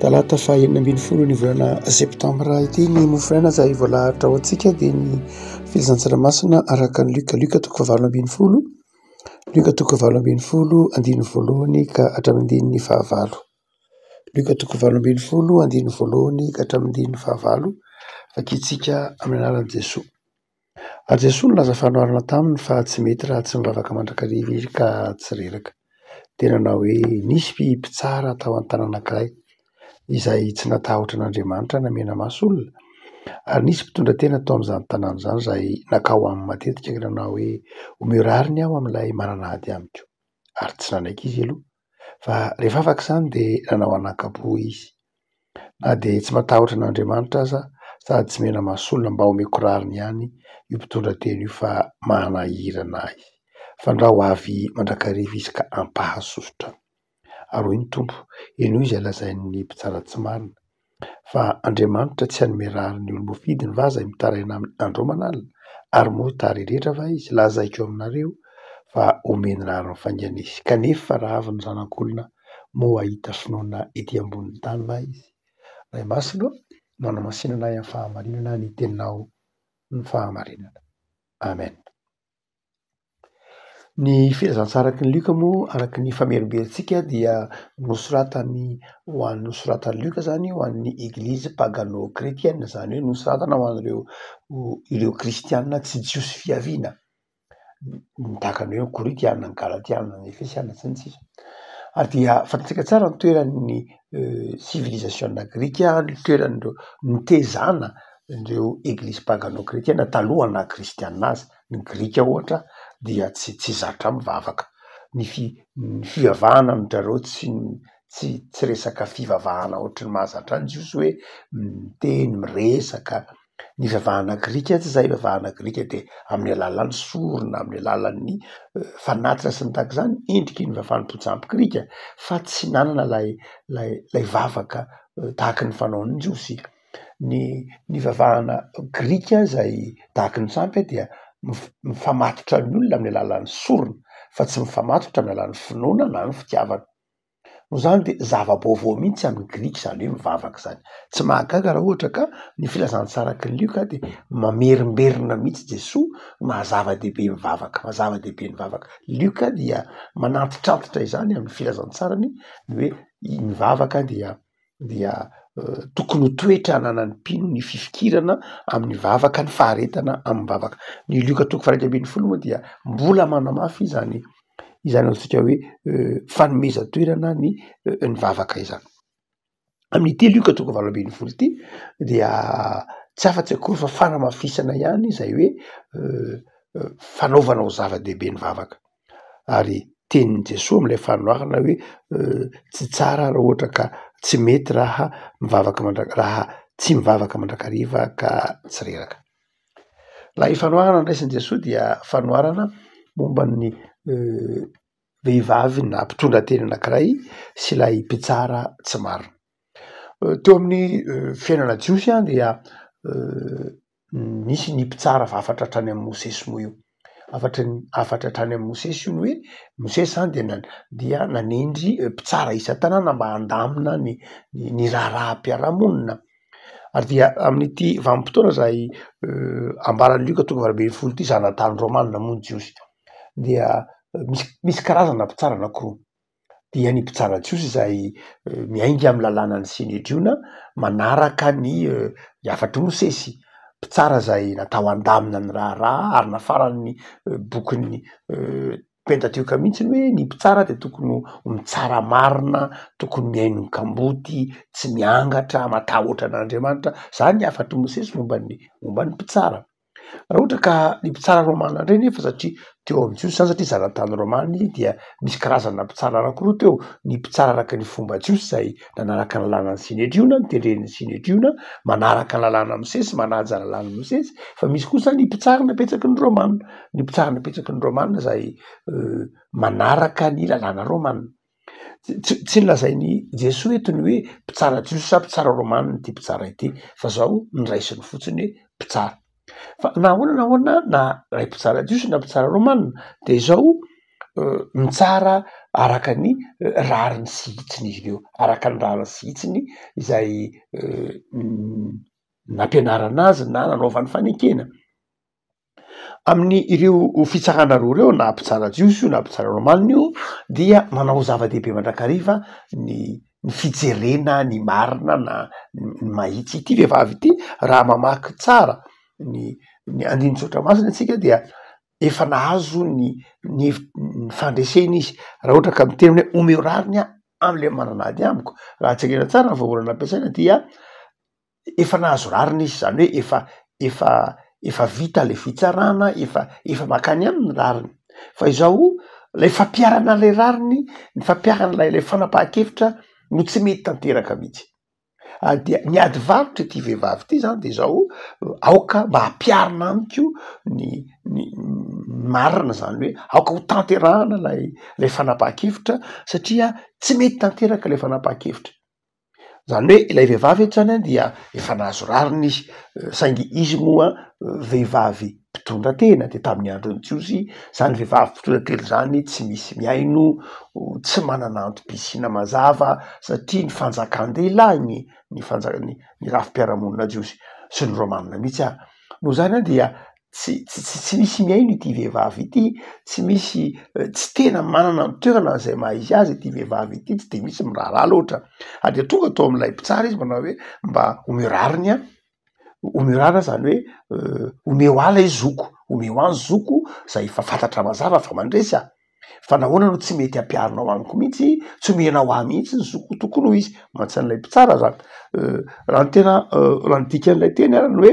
Talata fahenina ambin'ny folon'ny volana septambra ity ny mofonaina izay voalahatra ho antsika dia ny filazantsara tsaranamasina araka ny lioka lioka toko fahavalo ambin'ny folo lioka toko fahavalo ambin'ny folo andininy voalohany ka hatramin'ny andininy fahavalo lioka toko fahavalo ambin'ny folo andininy voalohany ka hatramin'ny andininy fahavalo vakintsika amin'ny anaran'i Jesoa. Ary Jesoa nilaza fanoharana taminy fa tsy mety raha tsy mivavaka mandrakariva izy ka tsy reraka. Dia nanao hoe, Nisy mpitsara tao an-tanana anankiray, izay tsy natahotra an'Andriamanitra namena maso olona, ary nisy mpitondra tena tao amin'izany tanàna izany izay nankao aminy matetika ka nanao hoe, Omeo rariny aho amin'ilay manana ady amiko. Ary tsy nanaiky izy aloha. Fa rehefa afaka izany dia nanao an'ankapo izy. Na dia tsy matahotra an'Andriamanitra aza sady tsy mena maso olona mba omeko rariny ihany io mpitondra teny io fa manahirana ahy. Fandrao avy mandrakariva izy ka ampahasosotra. Ary hoy ny Tompo, henoy izay lazain'ny mpitsara tsy marina. fa Andriamanitra tsy hanome rariny olo voafidy ny vaza mitaraina aminy andro aman alina, ary moa hitara iretra va izy, lazaiko aminareo fa homeny rariny faingana izy, kanefa raha avy ny zanak' olona moa hahita finoana ety ambony ny tany va izy? Ray Masina ô, manamasina anay amin'ny fahamarinana ny teninao ny fahamarinana. Amen. Ny filazantsaraky ny Lioka moa araka ny famerimberentsika dia nosoratany ho an'ny nosoratan'i Lioka izany ho an'ny eglizy pagano kretiana, izany hoe nosoratana ho an'ireo ireo kristiana tsy jiosy fiaviana, tahaka ny hoe ny koritiana, ny galatiana, ny efesiana sy ny sisa ary dia fantatsika tsara ny toeran'ny sivilizasiona grika, ny toeran'ireo nitezana ireo eglizy pagano kretiana talohan'ny naha-kristiana azy. Ny Grika ohatra dia tsy tsy zatra mivavaka. Ny fi- ny fivavahana amin-dry zareo tsy tsy tsy resaka fivavahana ohatry ny mahazatra ny Jiosy hoe miteny, miresaka. Ny fivavahana grika tsy izay, ny fivavahana grika dia amin'ny alalan'ny sorona, amin'ny alalan'ny fanatitra sy ny tahaka izany endriky ny vavan'ny Bojamby grika fa tsy nanana ilay ilay ilay vavaka tahaky ny fanaon'ny Jiosy. Ny nivavahana grika izay dahaky ny sampy dia mifamatotra ny olona amin'ny alalan'ny sorona fa tsy mifamatotra amin'ny alalan'ny finoana na ny fitiavana. Noho izany dia zava-baovao mihitsy amin'ny grika izany hoe mivavaka izany. Tsy mahagaga raha ohatra ka ny filazantsaraky ny lioka dia mamerimberina mihitsy Jesoa maha zava-dehibe ny vavaka, maha zava-dehibe ny vavaka. Lioka dia manantitrantitra izany amin'ny filazantsarany ny hoe ny vavaka dia dia tokony ho toetra ananan'ny mpino ny fifikirana amin'ny vavaka, ny faharetana amin'ny vavaka. Ny Lioka toko faha-iraika ambin'ny folo moa dia mbola manamafy izany izany antsika hoe fanomezan-toerana ny ny vavaka izany. Amin'ity Lioka toko valo ambin'ny folo ity dia tsy afa-tsy akory fa fanamafisana ihany izay hoe fanaovanao zava-dehibe ny vavaka. ary tenin'i Jesoa amin'ilay fanoharana hoe tsy tsara raha ohatra ka tsy mety raha mivavaka mandra- raha tsy mivavaka mandrakariva ka tsy reraka. Ilay fanoharana niraisin'i Jesoa dia fanoharana momba ny vehivavy na mpitondra teny anankiray sy ilay mpitsara tsy marina. Teo amin'ny fiainana jiosy dia nisy ny mpitsara hafatra hatrany amin'i Mosesy moa io. Hafatra hafatra hatrany amin'i Mosesy io ny hoe Mosesy izany dia na- dia nanendry mpitsara isan-tanàna mba handamina ny ny ny raharaham-piarahamonina. Ary dia amin'ity vanim-potoana izay ambaran'i Lioka toko valo ambin'ny folo ity zanatany Rômana moa ny Jiosy dia misy misy karazana mpitsara anankiroa. dia ny mpitsara jiosy izay miainga amin'ny lalànan'ny Senedriona manaraka ny hafatr'i Mosesy, mpitsara izay natao handamina ny raharaha ary nafaran'ny bokin'ny Pentatioka mihitsy ny hoe ny mpitsara dia tokony ho mitsara marina, tokony mihaino ny kamboty, tsy miangatra, matahotra an'Andriamanitra. Izany ny hafatr'i Mosesy momba ny momba ny mpitsara. Raha ohatra ka ny mpitsara romana indray nefa satria teo amin'ny Jiosy izany satria zanatany romana izy dia misy karazana mpitsara anankiroa teo, ny mpitsara araka ny fomba jiosy izay nanaraka ny lalànan'ny Synedriona, ny tendren'ny Synedriona, manaraka ny lalànan'i Mosesy, manaja ny lalànan'i Mosesy, fa misy kosa ny mpitsara napetsaky ny romana, ny mpitsara napetsaky ny romana izay manaraka ny lalàna romana. Tsy nolazain'i Jesoa eto ny hoe mpitsara jiosy sa mpitsara romanina ity mpitsara ity fa izao no raisiny fotsiny hoe mpitsara. Fa na ahoana na ahoana na ilay mpitsara jiosy na mpitsara romanina dia izao mitsara araka ny rariny sy hitsiny izy ireo, araka ny rariny sy hitsiny izay nampianarana azy na nanaovany fanekena. amin'ny ireo fitsarana roa ireo na mpitsara jiosy io na mpitsara romanina io dia manao zava-dehibe mandrakariva ny ny fijerena ny marina na ny mahitsy ity vehivavy ity raha mamaky tsara ny ny andinin-tsoatra masina antsika dia efa nahazo ny ny hevit- ny fandresena izy raha ohatra ka miteny hoe omeo rariny aho am'le manana ady amiko raha jerena tsara ny vahaolana ampiasaina dia efa nahazo rariny izy zany hoe efa efa efa vita le fitsarana efa efa makany aminy rariny fa izao lay fampiarana lay rariny ny fampiarana lay lay fanapahan-kevitra no tsy mety tanteraka mihitsy ah, dia ny ady varotra ity vehivavy ity zany de zao aoka mba hampiarina amiko ny ny marina zany hoe aoka ho tanterahana lay lay fanapahan-kevitra satria tsy mety tanteraka lay fanapahan-kevitra Izany hoe ilay vehivavy eto izany dia efa nahazo rariny izy, saingy izy moa vehivavy mpitondra tena, dia tamin'ny andron'ny Jiosy izany vehivavy mpitondra tena izany tsy misy mihaino, tsy manana antom-pisiana mazava satria ny fanjakan-dehilahy ny ny fanjaka- ny rafi-piarahamonina jiosy sy ny romanina mihitsy ary. Noho izany dia tsy tsy tsy tsy misy mihaino ity vehivavy ity, tsy misy tsy tena manana ny toerana izay maha izy azy ity vehivavy ity, tsy dia misy miraharaha loatra. Ary dia tonga tao amin'ilay mpitsara izy manao hoe mba omeo rariny aho, omeo rariny aho izany hoe omeo ahy ilay zoko, omeo ahy ny zoko izay efa fantatra mazava fa mandresy aho. fa nahoana no tsy mety ampiharinao amiko mihitsy tsy omenao ahy mihitsy ny zoko tokony ho izy mantsy an'ilay mpitsara zany euh, raha ny tena euh, raha ny dikan'ilay teny arany hoe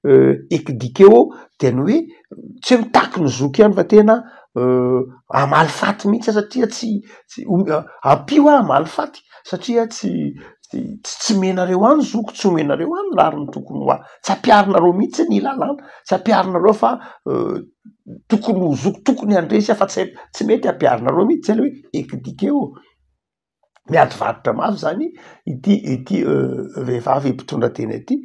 euh, ekidikeo dia ny hoe tsy hoe mitaky ny zoko ihany fa tena amaly faty mihitsy satria tsy tsy ampio aho amaly faty satria tsy tsy tsy menareo any zoko tsy omenareo any lariny tokony ho ahy tsy ampiharinareo mihitsy ny lalàna tsy ampiharinareo fa tokony ho zoky tokony handresy aho fa tsy haiko tsy mety hampiharinareo mihitsy zany hoe ekdikeo miady varotra mafy zany ity ity vehivavy mpitondra tena ity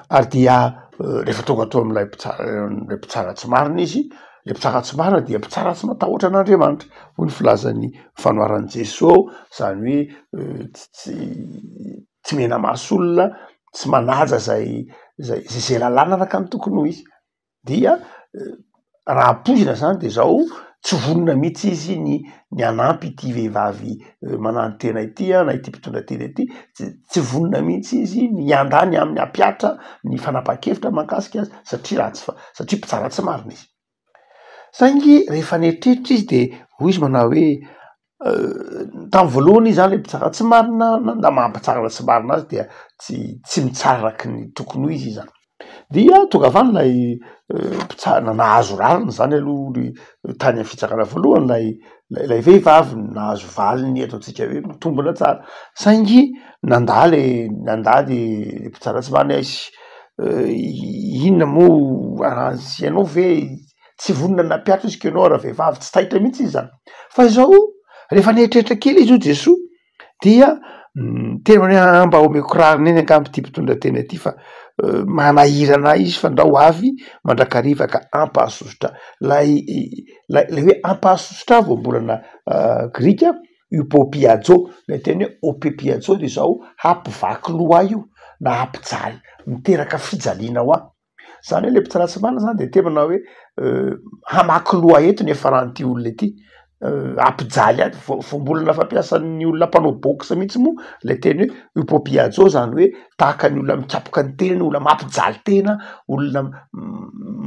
ary dia rehefa tonga teo amin'ilay mpitsara ilay mpitsara tsy marina izy le mpitsara tsy marina dia mpitsara tsy matahoatra an'Andriamanitra hoy ny filazan'ny fanoharan'i Jesoa zany hoe tsy tsy tsy menamaso olona tsy manaja zay zay zay zay lalàna arakany tokony ho izy dia raha ampoizina zany de zao tsy vonona mihitsy izy ny ny hanampy ity vehivavy mananontena ity a na ity mpitondra tena ity tsy tsy vonona mihitsy izy ny hiandany ny aminy hampiatra ny fanapahan-kevitra mahakasika azy satria ratsy fa- satria mpitsara tsy marina izy saingy rehefa nieritreritra izy de hoy izy manao hoe Tamin'ny voalohany izy zany le mpitsara tsy marina na maha mpitsara na tsy marina azy dia tsy tsy mitsara araka ny tokony ho izy izy zany. Dia tonga avy any ilay mpitsara nahazo rariny zany aloha ny tany amin'ny fitsarana voalohany ilay ilay vehivavy nahazo valiny eto antsika hoe mitombina tsara saingy nandà le nandà le mpitsara tsy marina izy. Inona moa raha tsy ianao ve? tsy vonona nampiatra izy keno raha vehivavy tsy taitra mihitsy izy zany fa izao rehefa nieritreritra kely izy io Jesoa dia mm, tena hoe ah, mba omeko rariny eny angamba ity mpitondra tena ity fa eh, manahirana izy fa ndao avy mandrakariva ka ampahasosotra lay lay lay hoe ampahasosotra voambolana eh, grika upopiajo lay teny hoe opipiajo dia izao hampivaky loha io na hampijaly miteraka fijaliana ho ahy Zany hoe le mpitsara tsy marina zany de tebana hoe hamaky loha eto ny efaran'ity olona ity ampijaly ato voambolana fampiasan'ny olona mpanao box mihitsy moa le teny hoe upopiajo zany hoe tahaka ny olona mikapoka ny tenany olona mampijaly tena olona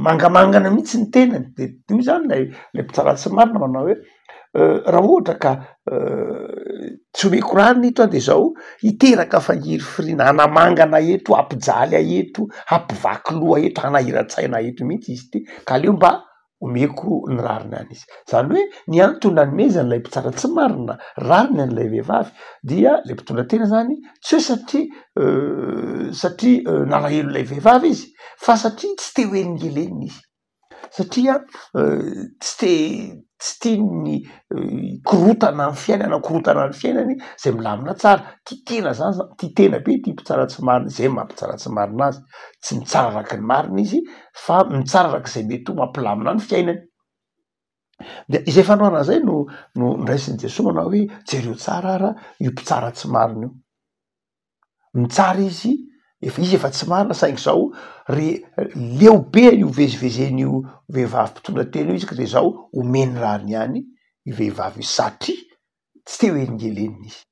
mangamangana mihitsy ny tenany de io zany lay le mpitsara tsy marina manao hoe Raha ohatra ka tsy omeko rano ito an dia izao hiteraka fahirifiriana hanamangana eto, hampijaly ahy eto, hampivaky loha ahy eto, hanahiran-tsaina ahy eto mihitsy izy ity ka aleo mba omeko ny rariny any izy. Izany hoe ny antony nanomezany ilay mpitsara tsy marina rariny an'ilay vehivavy dia ilay mpitondra tena izany tsy hoe satria satria nalahelo ilay vehivavy izy fa satria tsy te ho helingelenina izy. satria tsy te tsy tian'ny korontana ny fiainana korontana ny fiainany zay milamina tsara tia tena zany zany tia tena be tia mpitsara tsy marina izay maha mpitsara tsy marina azy tsy mitsara araky ny marina izy fa mitsara araka izay mety ho mampilamina ny fiainany dia izay fanoharana izay no no ndraisin'i Jesoa manao hoe jereo tsara ara io mpitsara tsy marina io mitsara izy efa izy efa tsy marina saingy zao re leo be io vezivezeny io vehivavy mpitondra tena io izy ka de zao omeny rariny ihany io vehivavy io satria tsy te ho helingelenina izy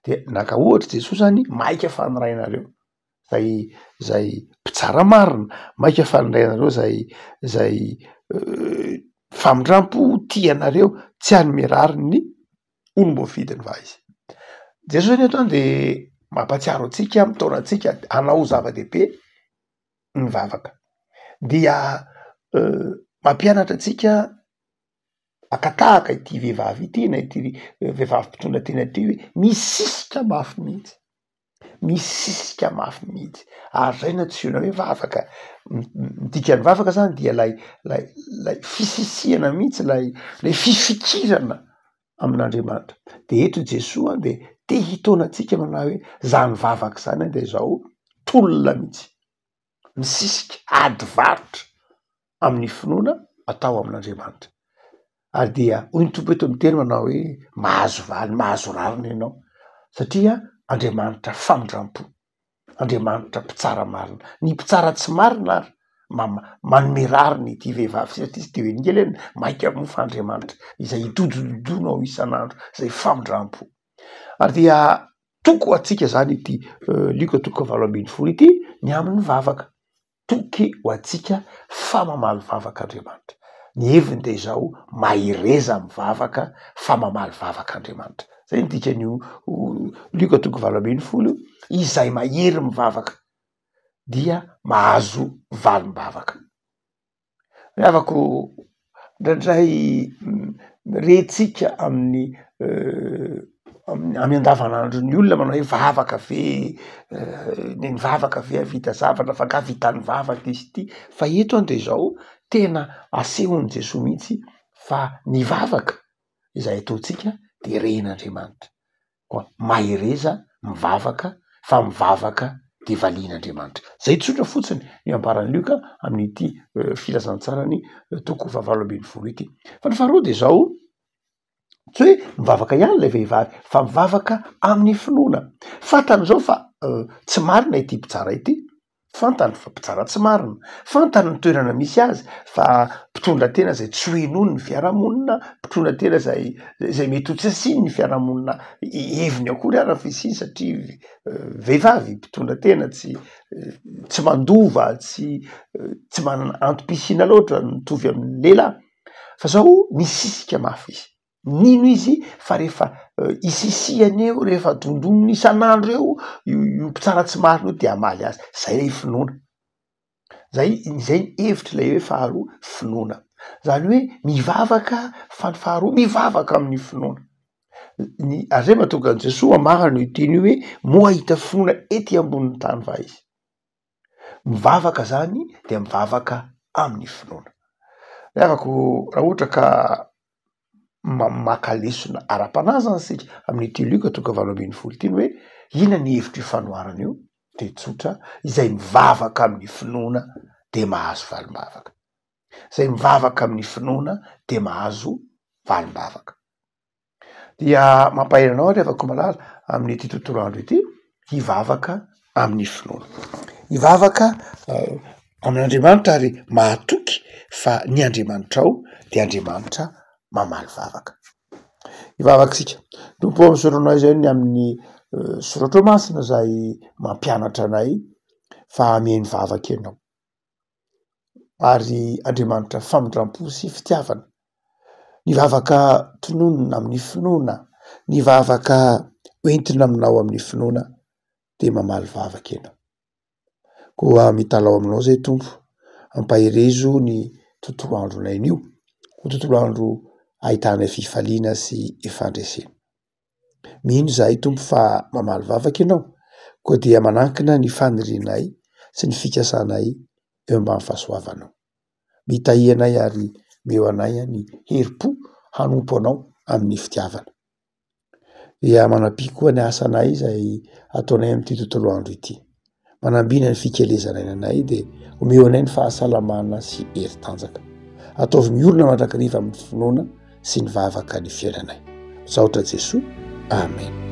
de naka ohatra Jesoa zany maika fa ny rainareo zay zay mpitsara marina maika fa ny rainareo zay zay famindrampo tia anareo tsy hanome rariny ny olom-boafidiny va izy. Jesoa zany eto de mampatsiaro antsika mitaona antsika hanao zava-dehibe ny vavaka dia mampianatra antsika aka tahaka ity vehivavy ity na ity vehivavy mpitondra tena ity hoe misisika mafy mihitsy. misisika mafy mihitsy ary zay no antsoina hoe vavaka, ny dikan'ny vavaka zany dia lay lay lay fisisihana mihitsy lay lay fifikirana amin'Andriamanitra, de eto Jesoa de te hitaona antsika manao hoe zany vavaka zany dia zao tolona mihitsy. misisika ady varotra amin'ny finoana atao amin'Andriamanitra. Ary dia hoy ny Tompo eto amin'ny teny manao hoe mahazo valy, mahazo rariny ianao satria Andriamanitra famindrampo, Andriamanitra mpitsara marina. Ny mpitsara tsy marina ary mama- manome rariny ity vehivavy ity satria tsy dia velingely izy, maika moa fa Andriamanitra izay itodododonao isan'andro, izay famindrampo. ary dia toko antsika zany ity lioka toko valo ambin'ny folo ity ny amin'ny vavaka toky ho antsika fa mamaly vavaka andriamanitra ny heviny dia izao mahereza amin'ny vavaka fa mamaly vavaka andriamanitra zay ny dikan'io lioka toko valo ambin'ny folo io izay mahery mivavaka dia mahazo valim-bavaka Ry havako ô, indraindray rehintsika amin'ny amin'ny andavanandro ny olona manao hoe vavaka ve dia nivavaka ve hahavita zavatra na fa angaha vita nivavaka izy ity fa eto dia izao tena asehon'i Jesoa mihitsy fa ny vavaka izay ataontsika dia rehin'Andriamanitra. koa mahereza mivavaka fa mivavaka dia valian' Andriamanitra. Izay tsotra fotsiny ny ambaran'i Lioka amin'ity filazantsarany toko fahavalo ambin'ny folo ity. Fa ny faharoa dia izao, tsy hoe mivavaka ihany ilay vehivavy fa mivavaka amin'ny finoana. Fantany izao fa tsy marina ity mpitsara ity. Fantany fa mpitsara tsy marina, fantany ny toerana misy azy fa mpitondra tena izay tsy ho henoin'ny fiarahamonina, mpitondra tena izay izay mety ho tsy asian'ny fiarahamonina heviny akory ary ny fisiany satria vehivavy mpitondra tena tsy tsy mandova, tsy tsy manana antom-pisiana loatra mitovy amin'ny lehilahy fa zao misisika mafy izy. Nino izy fa rehefa isisihany eo, rehefa dondoniny isan'andro eo io mpitsara tsy marina io dia hamaly azy. Izay ilay finoana. Izay, izay ny hevitr'ilay hoe faharoa, finoana. Izany hoe mivavaka fa ny faharoa mivavaka amin'ny finoana. Ny Andriamanitra mahatonga an'i Jesoa hamarana io teny io hoe moa hahita finoana ety ambonin'ny tany va izy. mivavaka zany dia mivavaka amin'ny finoana. Ry havako raha ohatra ka ma- maka lesona ara-panahy zany isika amin'ity Lioka toko valo ambin'ny folo ity ny hoe inona ny hevitro io fanoharana io dia tsotra, izay mivavaka amin'ny finoana dia mahazo valim-bavaka, izay mivavaka amin'ny finoana dia mahazo valim-bavaka. dia mampahery anao ry havako malala amin'ity tontolo andro ity hivavaka amin'ny finoana. Hivavaka amin'Andriamanitra ary mahatoky fa ny Andriamanitrao dia Andriamanitra mamaly vavaka. Hivavaka isika. Tompo ao misoronao izay ny amin'ny eh, soratro masina izay mampianatra anay fa hameno vavaka ianao. ary Andriamanitra famindram-po sy fitiavana. Ny vavaka tononina amin'ny finoana, ny vavaka hoentina aminao amin'ny finoana dia mamaly vavaka ianao. Koa mitalaho aminao izay Tompo, ampaherezo ny tontolo andronay anio ho tontolo andro ahitana fifaliana sy fandresena. Mino izahay Tompo fa mamaly vavaka Ianao, koa dia manankina ny fanirianay sy ny fikasanay eo ambany fahasoavanao. Mitahy anay ary meo anay ny herim-po hanompo Anao amin'ny fitiavana. Dia manam-pihy koa ny asanay izay ataonay amin'ity tontolo andro ity. Manambina ny fikelezana ny anay dia omeo anay ny fahasalamana sy hery tanjaka. Ataovy ny olona mandrakariva amin'ny finoana sy ny vavaka ny fiainanay. Misaotra Jesoa. Amen.